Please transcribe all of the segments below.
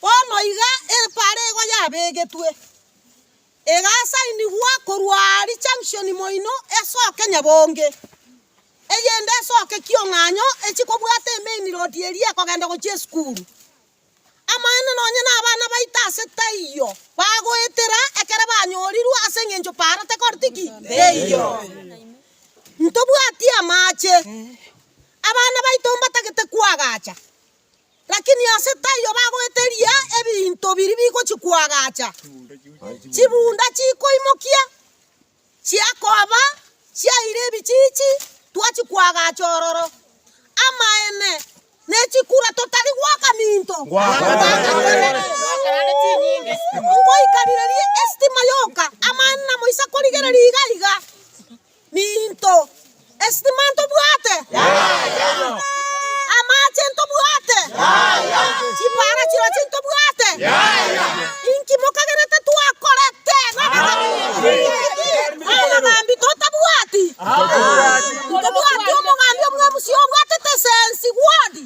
Bono iga epaara ego yabegetwe, egasainigwa korwa aaria chamshoni moino esoke nyabonge, eyende esoke kiong'anyo echie kobwata emain road eria ekogenda gochia esukuru. Amaene nonye na abana baito ase taiyo bagoetera ekero banyorirwe ase eng'encho paara tekoreti ki? Teiyo. Ntobwati amache, abana baito mbatagete koagacha. Lakini ase taiyo bagoeteria ebinto biria bigochia koagacha, chibunda chikoimokia, chiakoba chiaire ebichiichi, twachia koagacha ororo. Amaene, ne chikura totari goaka minto gwakaberete. Ngoikarirerie estima yoka, amaene namoisa korigereria iga iga. Ninto. Esitima ntobwate? Yaya. Amache ntobwate? Yaya. Chipara chiroche ntobwate? Yaya. Inki mokagerete twakorete? Omogambi totabwati? Ntobwati omogambi omwemusia obwatete esensi, wodi?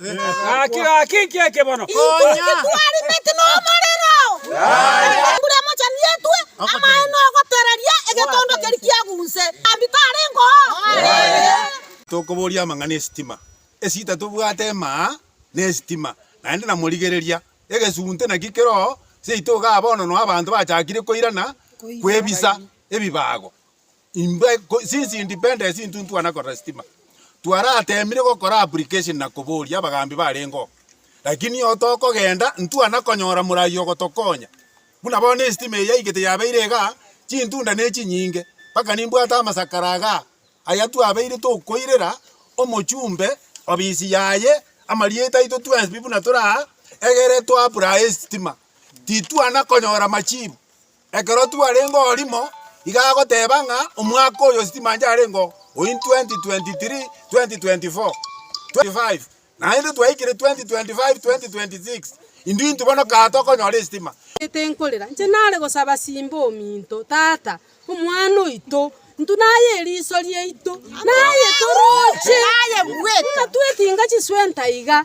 Gaki, gaki, inki eke bono? Twarimeti nomorero. Embura emochenu yetwe amaye nogotereria egetondo keria kiagunse. Ambi tarengo? Tokoboria amang'ana esitima esita tobwate emaa ne esitima naende na morigereria egesunte naki kero seito igaa bono no abanto bachakire koirana kwebisa ebibago Intwe sisi independent intuntwana korora sitima, twaratemire gokora application na koboria abagambi barengeo, lakini iyoo tokogenda ntwana konyora morai ogotokonya, buna bono esitima eye yaigete yabeire igaa, chintunda nechinyinge, mpaka nimbwate amasakara igaa, aya twabeire tokoirera omochumbe ofisi yaye amarieta aito twensi pi buna toraa egere toapply esitima, titwana konyora machibu. Ekero twarenge orimo, iga agoteba ng'a omwaka oyo sitima ancharengeo oin 2023, 2024, 2025 naende twaikire 2025, 2026 intwe intwe bono kaa tokonyora esitima. Nete nkorera, inche nare gosaba simba ominto, Tata, omwana oito, intwe naye eriso riaito, naye toroche, buna twekinga chiswenta iga.